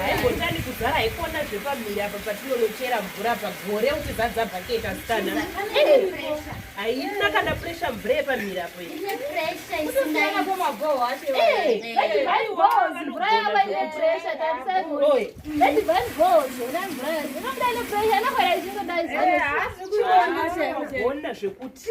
haimbotani kuzara haikona zvepamhiri apa patinonochera mvura pagore kuti zadzabhaketi asikana haina kana presha mvura yepamhiri apo ona zvekuti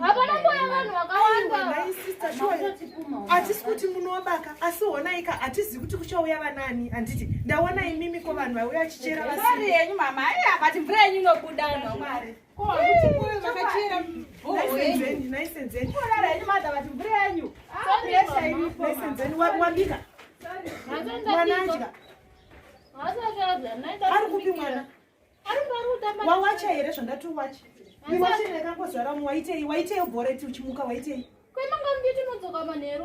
hapana kuya vanhu vakawandaatisi kuti munovaka asi honaika hatizivi kuti kuchauya vanani handiti ndaona imimi ko vanhu vauya vachichera vasiri yenyu mama ai havati mvura yenyu inobuda nwamwari wabika mwana adya ari kupi mwana wawacha here zvandati uwache iwache ndakangozvara umwe waitei waitei uboreti uchimuka waitei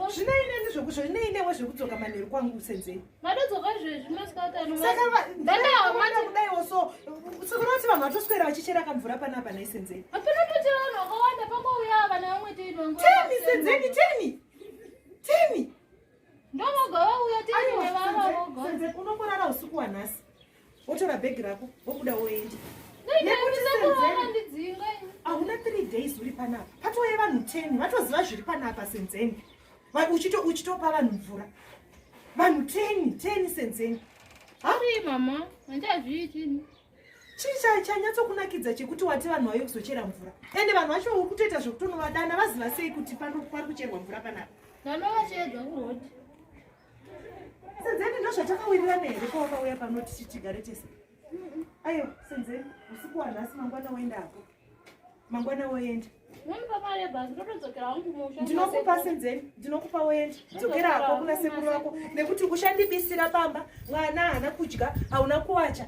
zvinei neni zvokusho zvinei newe zvekudzoka manheru kwangu usenzei kudaiwo so sokunoti vanhu vatoswera vachichera kamvura panapa naisenzei temi senzeni temi temi ndovoga vauya temi unongorara usiku wanhasi wotora bhegi rako wobuda woenda hauna three days uri panapa patouye vanhu ten vatoziva zviri panapa senzeni uchitopa vanhu mvura vanhu ten ten senzeni mama handazviitini chii chanyatsokunakidza chekuti wati vanhu vauye kuzochera mvura ende vanhu vacho uri kutoita zvekutonovadana vaziva sei kuti pari kucherwa mvura panapa ndanovacheedza kuroti senzeni ndozvatakawirira neheri kwawakauya pano tichi tigare tese ayo senzeni usiku wanhasi mangwana woenda ako mangwana woenda ndinokupa senzeni ndinokupa woenda dzokera hako kuna sekuru vako nekuti uchandibisira pamba mwana haana kudya hauna kuwacha